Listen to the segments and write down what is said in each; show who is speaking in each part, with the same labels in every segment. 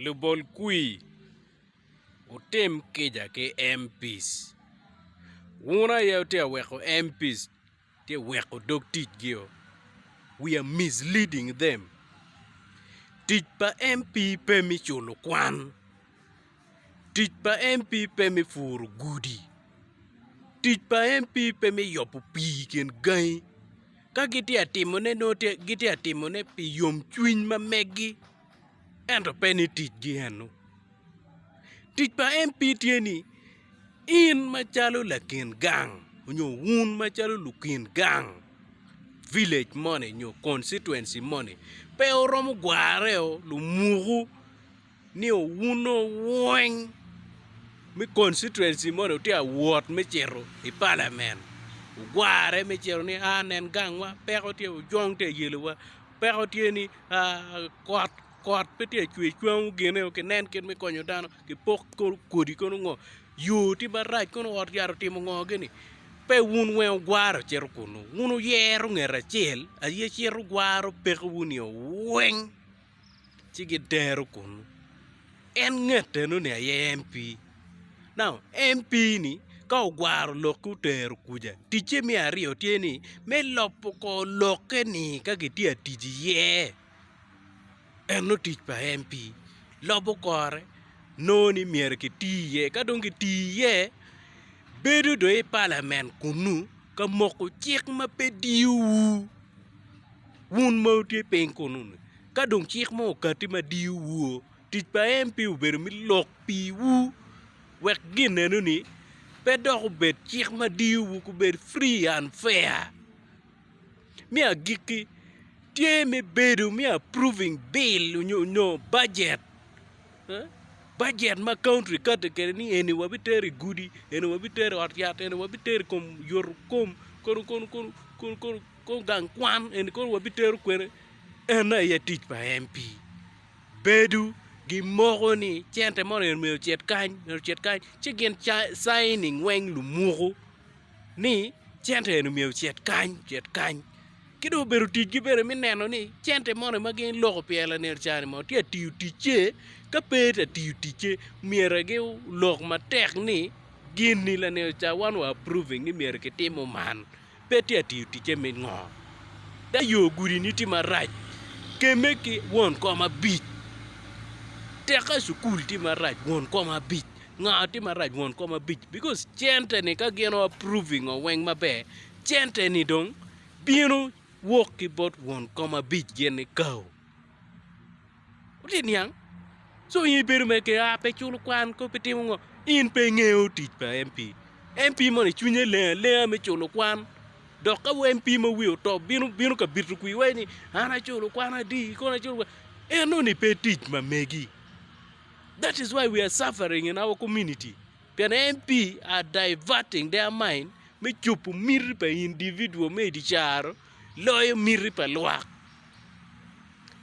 Speaker 1: Lubol kwir, wutim kica ki MPs. Wun aye wutye ka weko MPs tye ka weko dog ticgio. We are misleading them. Tic pa MP pe me culo kwan. Tic pa MP pe me puro gudi. Tic pa MP pe me yobo pii i kin gangi. Ka gitye ka timone nongo gitye ka timone pi yomcwiny ma megi ento pe ni ticgi eno. Tic pa MP tye ni in macalo lakin gang nyo wun macalo lukin gang village moni nyo constituency moni pe wuromo gwareo lumuku. ni owuno wony me constituency moni wutye ka wot me cito i palamen wugware me cito ni aa nen gangwa peko tye ojong tye ka yelowa peko tye ni kot kot pe tye ka cwer cwangu gine ki nen kit me konyo dano kipok kono kodi kono ngo yo tye marac kono ot yat otimo ngo gini pe wun weng wugware wucito kunu wun wuyero nget acel aye cito gwaro pekowu ni owuny. ci gidero kunu. En nget eno ni aye MP. Now MP ni ka ogwaro lokke otero kuca ticce me aryo tye ni me lobo kor lokke ni ka gitye atic iye. Eno tic pa MP lobo kore nongo ni myero kiti iye ka dong kiti iye bedo dong i palament kunu ka moko cik ma pe diyo wu. Wun ma wutye piny kunnu-ni, ka dong cik mo okatti ma diyo woo, tic pa en pe obedo me lok piwu, wek gin enoni pe dok obed cik ma diyo wu ku bed free and fair. Me agikki, tye me bedo me approving bill onyo budget, budget ma county kati kede ni eni wa bi tero i gudi, eni wa bi tero i ot yat, eni wa bi tero i kom yoto kom, kono kono kono kono kono. Kong gang kwan eni kono wabitero kwene en aye atic pa MP. Bedo gimoko ni cente mo eni myero ocit kany, myero ocit kany ci gin signing weng lumuku ni cente eni myero ocit kany, ocit kany. Ki dong obedo ticgi bene me neno ni cente moni ma gin loko pye lanen ca ni mono tye ka tiyo ticce ka pe tye ka tiyo ticce myero gilok matek ni gin ni lanen ca wan wa approving ni myero kitimo man. pe tye ka tiyo ticce me ngo? Ka yo gudi-ni tye marac, kemme ki won kom abic. Teka i cukul tye marac, won kom abic. Nga tye marac, won kom abic. Bikos cente-ni ka gin o apruv i ngo weng maber, cente-ni dong bino wok ki bot won kom abic gin-ni kao. Wutye niang? So in ibedo me ke a pe culo kwan ko pe timo ngo. In pe ingeyo tic pa MP. MP moni cwinye leng alenga me culo kwan. Dok ka MP ma wiye otop bino bino ka bito kwi iwaci ni an aculo kwan adi kono aculo kwan. Eno ni pe tic ma megi. That is why we are suffering in our community. Pien en pi a diverting their mind me cobo miti pa individual me idi caro loyo miti pa lwak.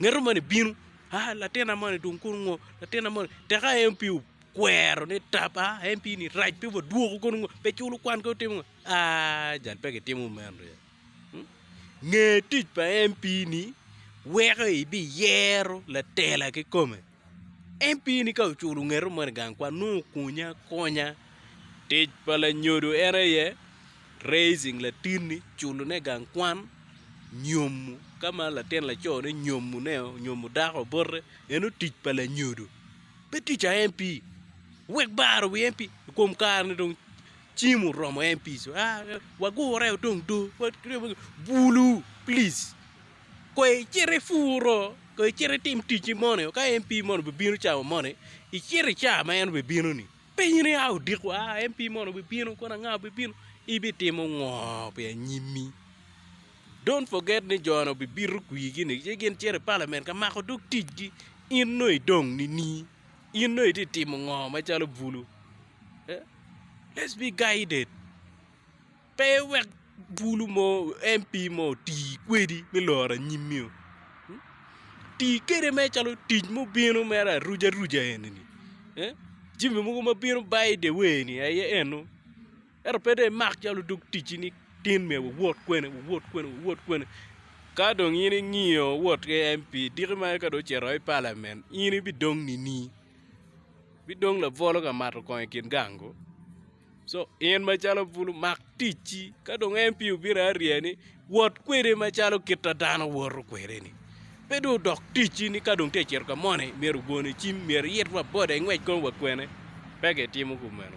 Speaker 1: Ngeto moni bino aa latina moni dong kono ngo latina moni tek a en pi okwero ni tap a en pi ni rac pe wa dwoko kono ngo pe culo kwan ka otimo ngo aa jal pe gitimo meno ryek. Nge tic pa en pi ni weko ibiyero latela kikome. En pii ni ka oculo ngeto moni i gang kwan nongo okunya akonya tic pa lanyodo en aye raising latinni culone i gang kwan nyomo ka ma latin laco ne nyomo ne onyomo dako bote eno tic pa lanyodo pe tic pa MP wek baro wi MP i kom kare ni dong cim oromo MP co aa wagure dong doo bulu plic. Kong icit ipuro, kong icit itim ticci moni, ka MP moni obibino cawa moni, icit i cawa ma en obibino ni, penye ni a odiko a MP moni obibino kono anga obibino, ibitimo ngo pi anyimmi? Don't forget ni jo ni obibito kwigi ni ci gin cito i parliament ka mako dog ticgi, in nongo idong nini? In nongo itye ka timo ngo macalo bulu? Let's be guided. Pe iwek bulu mo, MP mo oti kwedi me loro anyimmi o. Ti kede mere calo tic mubino mere aruja ruja eni-ni. Jimi mogo ma bino by the way ni aye eno. Ento pe dong imak calo dog ticci ni tin myero wuwot kwene, wuwot kwene, wuwot kwene. Ka dong in ingiyo wot ki MP diki mere ka dong ocito woko i Parliament in ibidong nini? Ibidong labolo ka mato kong i kin gango? Co, In macalo bulu, mak ticci. Ka dong en pye obito aryea ni, Wot kwede macalo kit a dano woto kwede-ni. Pe dong odok ticci ni ka dong tye ka cito ka moni myero ogone cim, myero iyit wa boda ingwec kong wa kwene. Pe kitimo kumeno.